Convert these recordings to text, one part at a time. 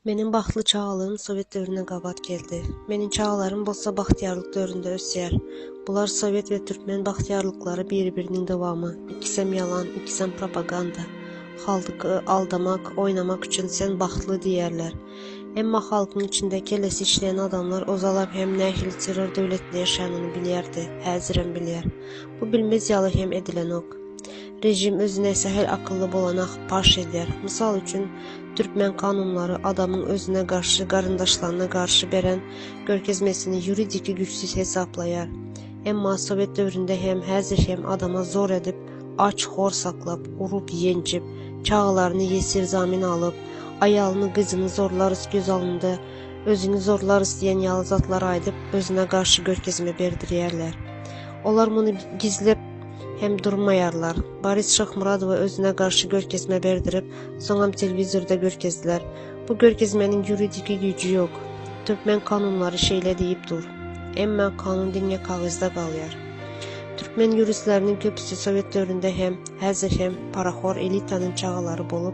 Meniň bagtly çagalygym sowet döwrüne gabat geldi. Meniň çagalarym bolsa bagtyýarlyk döwründe ösýär. Bular sowet we türkmen bagtyýarlyklary biri-biriniň dowamy. Ikisem ýalan, ikisem propaganda. Halky aldamak, oýnamak üçin sen bagtly diýýärler. Emma halkyň içinde kellesi işleýän adamlar ozalam hem nähili terror döwletinde ýaşanyny bilýärdi, häzirem bilýär. Bu bilmez ýaly hem edilenok. Rejim özüne sähel akylly bolana paş edýär. Mysal üçin, türkmen kanunlary adamyň özüne garşy garyndaşlaryna garşy beren görkezmesini ýuridiki güýçsüz hesaplaýar. Emma sowet döwründe hem, häzir hem adama zor edip, aç, hor saklap, urup, ýenjip, çagalaryny ýesir zamin alyp, aýalyny, gyzyny zorlarys göz alynda, özüňi zorlarys diýen ýaly zatlar aýdyp, özüne garşy görkezme berdirýärler. Olar muny gizläp, hem durmaýarlar. Boris Şahmuradowa özüne garşy görkezme berdirip, soňam telewizorda görkezdiler. Bu görkezmeniň ýuridiki güýji ýok. Türkmen kanunlary şeýle diýip dur. Emma kanun diňe kagyzda galýar. Türkmen ýuristleriniň köpüsi sowet döwründe hem, häzir hem parahor elitanyň çagalary bolup,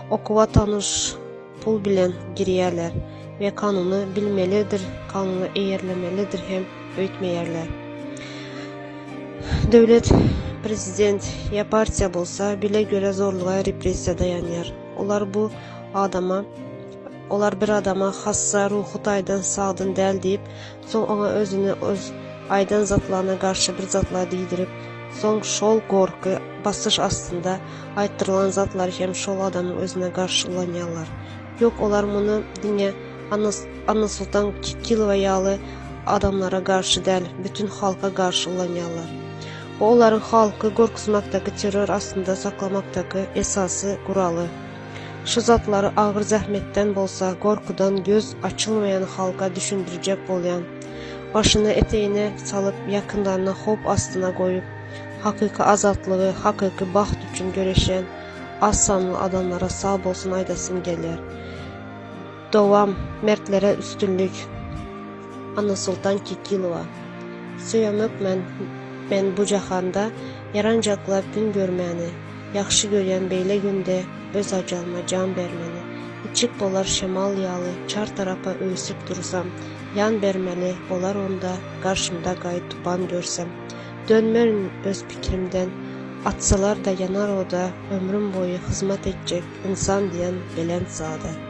okuwa tanyş pul bilen girýärler we kanuny bilmelidir, kanuna eýerlemelidir hem öýtmeýärler. Döwlet, prezident ýa partiýa bolsa bile göre zorluga repressiýa daýanýar. Olar bu adama olar bir adama hassa, ruhy taýdan sagdyn däl diýip, Soň oňa özüni öz aýdan zatlaryna garşy bir zatlar diýdirip, soň şol gorky, basyş astynda aýtdyrylan zatlary hem şol adamyň özüne garşy ulanýarlar. Ýok, olar muny diňe Annasoltan Kikilowa ýaly adamlara garşy däl, bütin halka garşy ulanýarlar. Bu olaryň halky gorkuzmakdaky, terror astynda saklamakdaky esasy guraly. Şu zatlary agyr zähmetden bolsa, gorkudan göz açylmaýan halka düşündirjek bolýan. Başyny etegine salyp, ýakynlaryny howp astyna goýup, hakyky azatlygy, hakyky bagt üçin göreşýän az sanly adamlara sag bolsun aýdasym gelýär. Dowam Mertlere üstünlik Annasoltan Kekilowa Söýemok men men bu jahanda Ýaranjaklap gün görmäni Ýagşy görýän beýle günde Öz ajalyma jan bermeni Içip bolar şemal ýaly Çar tarapa öwsüp dursam Ýan bermeli bolar onda Garşymda gaý tupan görsem Dönmerin öz pikrimden Atsalar-da ýanar oda Ömrüm boýy hyzmat etjek Ynsan diýen belent zada.